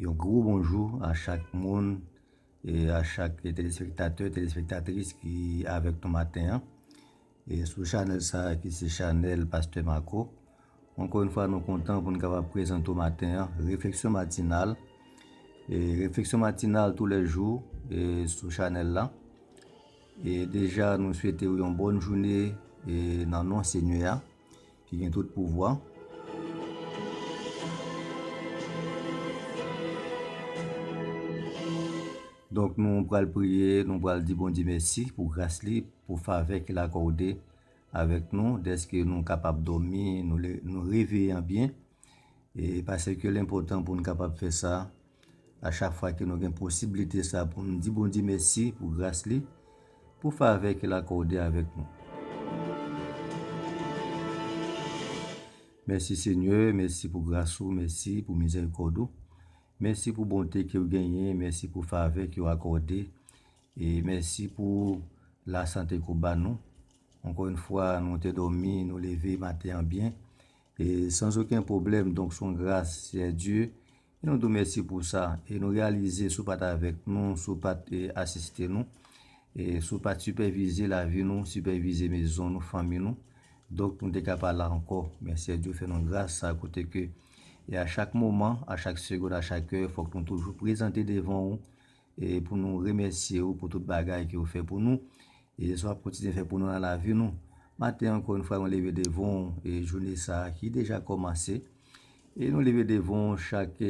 Yon gwo bonjou a chak moun, e a chak telespektatè, telespektatris ki avèk nou maten an, e sou chanèl sa ki se chanèl Pastè Marco. Ankò yon fwa nou kontan pou nou kapab prezante w maten an, Refleksyon Matinal. E Refleksyon Matinal tou lè jou, e sou chanèl la. E deja nou swete w yon bòn joune, e nan non Senyè a. Ki gen tout pouvwa. Donk nou pral priye, nou pral di Bondye mèsi pou gras li, pou favè ke l akòde avèk nou dèske nou kapab dòmi, nou reveye an byen, e paseke l enpòtan pou nou kapab fè sa. A chak fwa ke nou gen posiblite sa pou nou di Bondye mèsi pou gras li, pou favè ke l akòde avèk nou. Mèsi Senyè, mèsi pou gras ou, mèsi pou mizèrikòd ou, mèsi pou bonte ke ou genyen, mèsi pou favè ke ou akòde, e mèsi pou lasante ke ou ban nou. Ankò yon fwa nou te dòmi, nou leve maten an byen, e san zoken pwoblèm, donk son gras Seyè Dye E nou tou mèsi pou sa. E nou reyalize si w pa t avèk nou, si w pa t asiste nou, e si w pa t sipèvize lavi nou, sipèvize mezon nou, fanmi nou, donk nou te ka pa la ankò. Men Sè Dyo fè nou gras sa kote ke e a chak moman, a chak segond, a chak è, fòk nou toujou prezante devan ou, E pou nou remèsye ou pou tout bagay ke ou fè pou nou, e sa wap kontinye fè pou nou nan lavi nou. Maten ankò yon fwa mwen leve devan ou, e jounen sa ki deja kòmanse, e nou leve devan ou chak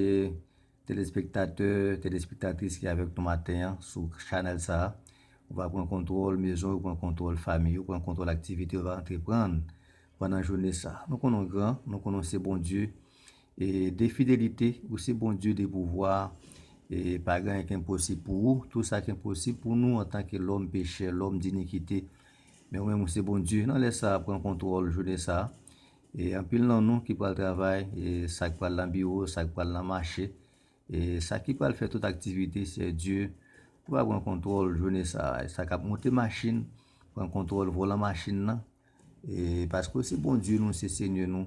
telespektatè, telespektatris ki avèk nou maten an sou chanèl sa. Ou va pran kontwòl mezon ou, pran kontwòl famiy ou, pran kontwòl aktivite ou va antreprann pandan jounen sa. Nou konnen ou gran, nou konnen ou se Bondye de fidelite ou se Bondye de pouvwa e pa gen anyen ki enposib pou ou, tout sa ki enposib pou nou antanke lòm pechè, lòm dinikite men ou menm ou se Bondye nan lè sa pran kontwòl jounen sa e anpil nan nou ki pral travay e sa k pral nan biwo, sa k pral nan mache e sa ki pral fè tout aktivite Seyè Dye ou va pran kontwòl jounen sa e sa k ap monte machin pran kontwòl volan machin nan e paske ou se Bondye nou, se Senyè nou.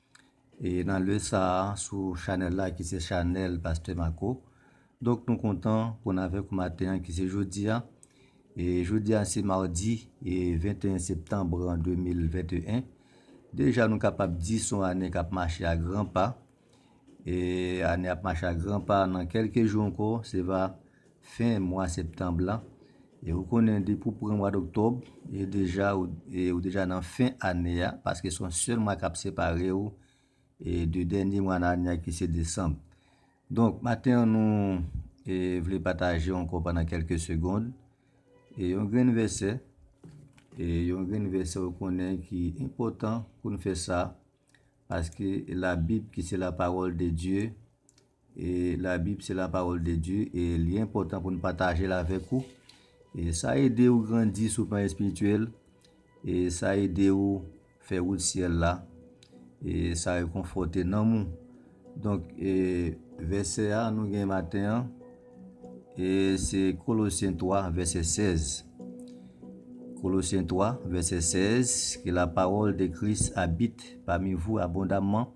E nan lè sa a sou chanèl la ki se chanèl Pastè Marco. Donk nou kontan pou n avèk ou maten an ki se jodi a. E jodi a se madi 21 septanm 2021. Deja nou kapab di son ane k ap mache a gran pa. E ane ap mache a gran pa nan kèlke jou ankò se va. fen mwa septanb la e ou konnen depi ou pran mwad oktòb e deja ou deja nan fen ane a paske son sèl mwa kap separe ou e de dènye mwa nan ane a ki se desanb donk maten an nou e vle pataje ankò pandan kèlke segond e yon grenn vèsè e yon grenn vèsè ou konnen ki enpòtan pou nou fè sa paske la bib ki se la pawòl de Dye E la bib se la parole de Dieu e li enpòtan pou nou patajel avèk ou e sa ede ou grandi sou plan espirityèl e sa ede ou fè wout syèl la e sa rekonfòte nanm ou donk e vèsè a nou gen maten an e se kolosyen 3 vèsè 16 kolosyen 3 vèsè 16 ke la parole de Christ habite parmi vous abondamment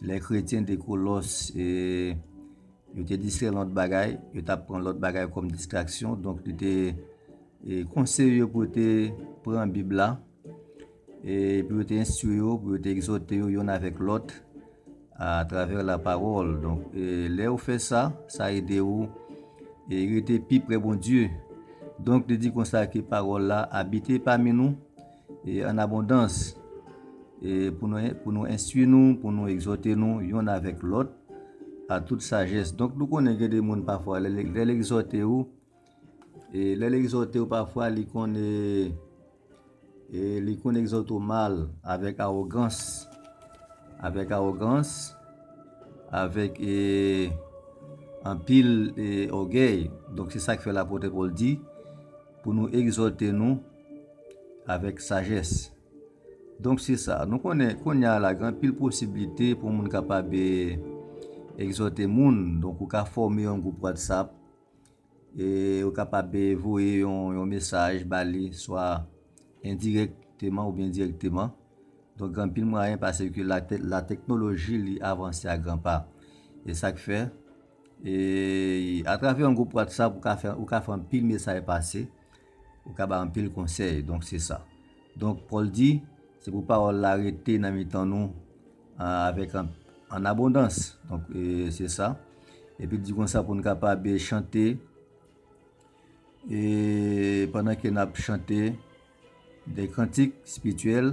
Lè kretyen te Kolos, yo te distrè nan lòt bagay, yo t ap pran lòt bagay kòm distraksyon. Donk, li te konseye yo pou yo te pran Bib la e pou yo te enstwi yo, pou yo te egzòte yo youn avèk lòt atravè lapawòl. Donk, lè ou fè sa, sa ede ou rete pi pre Bondye. Donk, li di konsa ke pawòl la abite pami nou. E an abondans, e pou nou enstwi nou, pou nou egzòte nou yonn avèk lòt a tout sajès. Donk nou konnen gen de moun pafwa lè l egzòte ou, e lè l egzòte ou pafwa li konn e, e li konn egzòte ou mal, avèk awogans, avèk awogans, avèk e anpil e ògèy. Donk se sa k fè lapote Pòl di pou nou egzòte nou. avèk sajès. Donk se sa, nou konnen konya la gen anpil posiblite pou moun kapab egzòte moun, donk ou ka fòme yon gwoup WhatsApp e ou kapab voye yon mesaj ba li swa endirèkteman oubyen dirèkteman. Donk gen anpil mwayen pase ke la teknoloji li avanse a gran pa. E sak fè, atravè yon gwoup WhatsApp ou ka fè anpil mesaj pase Ou ka bay anpil konsèy, donk se sa. Donk, Pòl di, Se pou pawòl la rete nan mitan nou avèk ann abondans. Donk, se sa. Epi l di konsa pou n kapab chante, e pandan ke n ap chante de kantik espirityèl.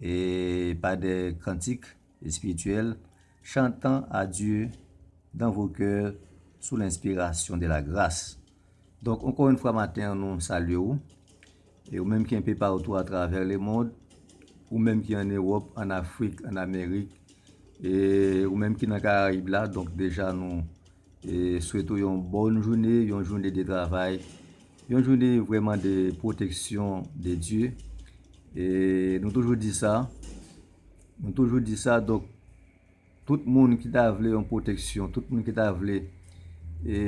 E pa de kantik espirityèl, chantan a Dye dan vo kè sou lenspirasyon de la gras. Donk, ankò yon fwa maten an nou salye ou, e ou menm ki enpe paoutou a travè le mond, ou menm ki an Ewòp, an Afrik, an Amerik, e ou menm ki nan Karayib la, donk deja nou Swete w yon bòn joune, yon joune de travay, yon joune vrèman de pwoteksyon de Dye. E nou toujou di sa, nou toujou di sa, donk tout moun ki ta vle yon pwoteksyon, tout moun ki ta vle e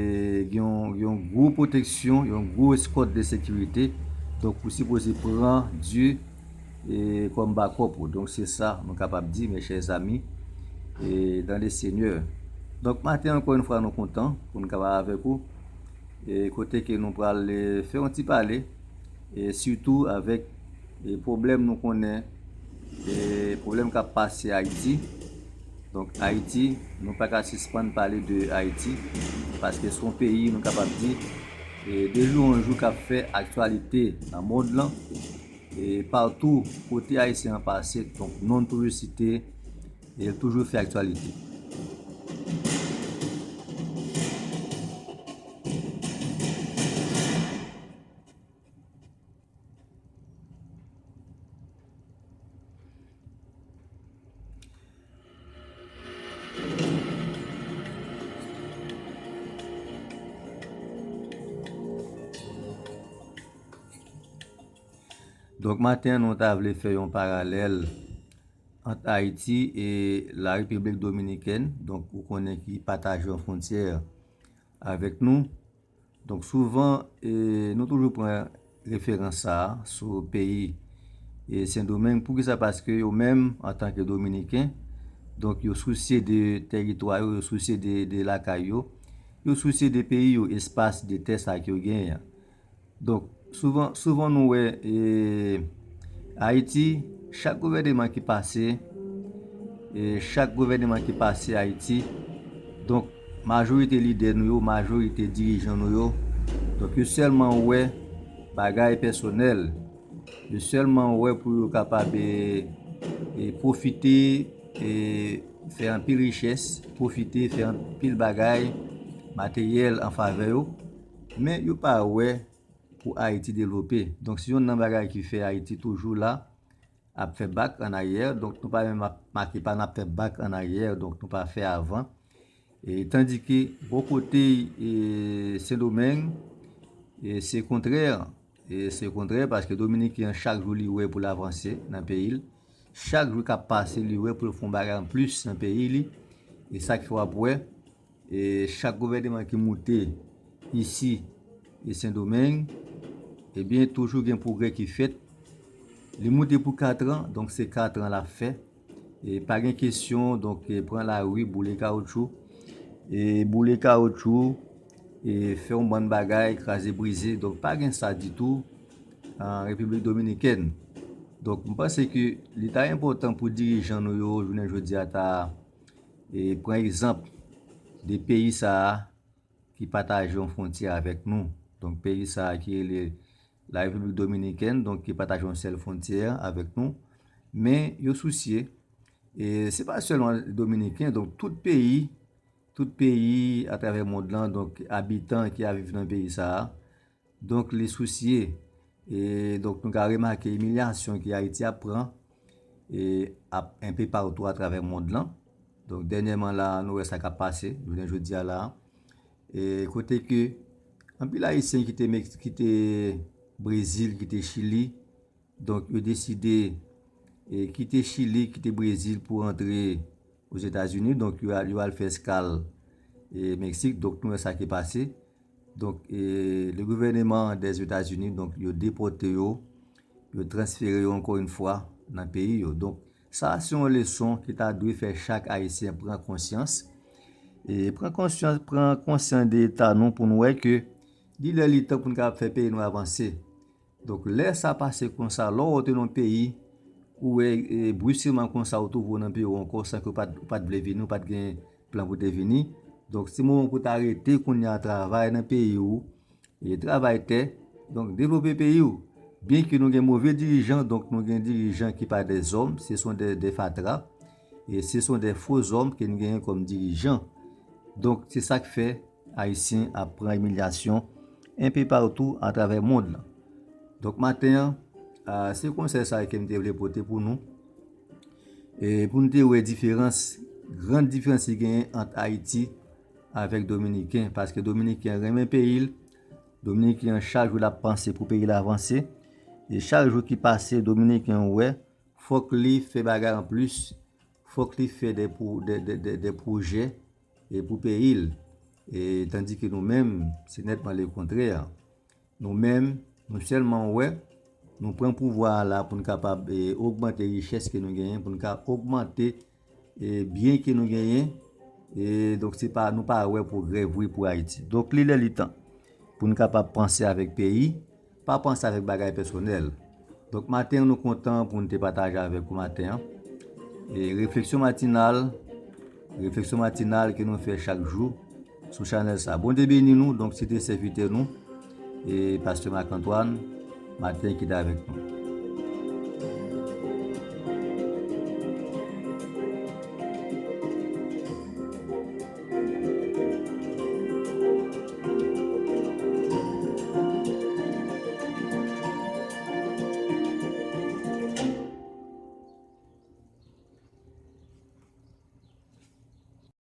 gen yon gwo pwoteksyon, yon gwo eskòt de sekirite, donk ou sipoze pran Dye. kòm bakòp ou. Donk se sa nou kapab di mes chers amis dans le seigneur. Donk maten ankò yon fwa nou kontan pou nou kapab avèk ou kote ke nou pral fè yon ti pale sitou avèk pwoblèm nou konnen pwoblèm kap pase Ayiti. Donk Ayiti nou pa ka sispann pale de Ayiti paske son peyi nou kapab di de jou an jou kap fè aktyalite nan mond lan E partou kote ayisyen an pase donk non l toujou site e l toujou fè aktyalite. Donk maten nou ta vle fè yon paralèl ant Ayiti e la Repiblik Dominikèn, donk ou konnen ki pataje yon fwontyè avèk nou. Donk souvan nou toujou pran referans sa a sou peyi Sendomeng. Poukisa? Paske yo menm antanke Dominiken, donk yo sousye de teritwa yo, yo sousye de lakay yo, yo sousye de peyi yo, espas, de tè sa ki yo genyen an. Donk Souvan souvan nou wè e Ayiti chak gouvèneman ki pase e chak gouvèneman ki pase Ayiti donk majorite lidè nou yo majorite dirijan nou yo donk yo sèlman wè bagay pèsonèl yo sèlman wè pou yo kapab e e pwofite e fè anpil richès pwofite fè anpil bagay materyèl anfavè yo. Men yo pa wè pou Ayiti devlope. Donk se youn nan bagay ki fè Ayiti toujou la ap fè bak an aryè. Donk nou pa menm ap make pa, n ap fè bak an aryè. Donk nou pa fè avan. Tandike bò kote Sendomeng, se kontrè. Se kontrè paske Dominiken an chak jou li wè pou l avanse nan peyi l. Chak jou k ap pase li wè pou l fè yon bagay an plis nan peyi li. E sa k fè w ap wè. E chak gouvèneman ki moute isi e sendomeng e byen toujou gen pwogrè ki fèt li moute pou 4 an donk se 4 an lap fè e pa gen kesyon donk pran lari boule kawoutchou e boule kawoutchou e fè yon bann bagay kraze brize donk pa gen sa ditou an repiblik dominikèn donk m panse ke li ta enpòtan pou dirijan nou yo jounen jodi a ta E pran egzanp de peyi sa a ki pataje yon fwontyè avèk nou. Donk peyi sa a ki rele La Repiblik Dominikèn, donk ki pataje yon sèl fwontyè avèk nou. Men yo sousye, e se pa sèlman Dominiken, donk tout peyi, tout peyi atravè mond lan, donk abitan ki ap viv nan peyi sa a, Donk li sousye. E donk nou ka remake imilyasyon ke Ayiti ap pran e ap enpe patou atravè mond lan. Donk dènyèman la a nou wè sa k ap pase jounen jodi a la a. E kote ke anpil Ayisyen ki te Brezil, ki te Chili. Donk yo deside kite Chili, kite Brezil pou rantre Ozetazini. Donk yo al fè eskal Meksik. Donk nou wè sa ki pase. Donk le gouvèneman dè Zetazini, donk yo depote yo, yo transfere yo ankò yon fwa nan peyi yo. Donk sa se yon leson ki ta dwe fè chak Ayisyen pran konsyans. E pran konsyans, pran konsyans de eta nou pou nou wè ke li lè li tan pou nou kapab fè peyi nou avanse. Donk lè sa pase konsa, lè w antre nan yon peyi, ou wè bruskeman konsa ou twouve w nan peyi w ankò san ke w pa t vle vini, ou pa t gen plan pou w te vini. Donk se moman pou w ta rete kounye a travay nan peyi w, travay tè, donk devlope peyi w. Byenke nou gen move dirijan, donk nou gen dirijan ki pa dè zòm, se son dè fatra. E se son de fo zòm ke n genyen kòm dirijan. Donk se sa k fè Ayisyen ap pran imilyasyon enpe patou atravè mond lan. Donk maten an, se konsèy sa ke m te vle pote pou nou. E pou n te wè diferans, gran diferans ki genyen ant Ayiti avèk Dominiken. Paske Dominiken renmen peyi l, Dominiken chak jou l ap panse pou peyi l avanse. E chak jou ki pase Dominiken wè. Fok li fè bagay an plis, fok li fè de pwojè pou peyi l. Tandi ke nou menm, se netman le kontrè. Nou menm, nou selman wè, nou pran pouvwa a la pou n kapab ogmante richès ke nou genyen, pou n ka ogmante E byen ke nou genyen, e donk se pa, nou pa wè pwogrè vre pou Ayiti. Donk li lè li tan pou nou kapab panse avèk peyi, pa panse avèk bagay pèsonèl. Donk maten an nou kontan pou nou te pataje avèk ou maten an. E refleksyon matinal, refleksyon matinal ke nou fè chak jou. Sou chanel sa. Bondye beni nou donk se te sèvitè nou Pasteur Marc Antoine Martin ki t avèk nou.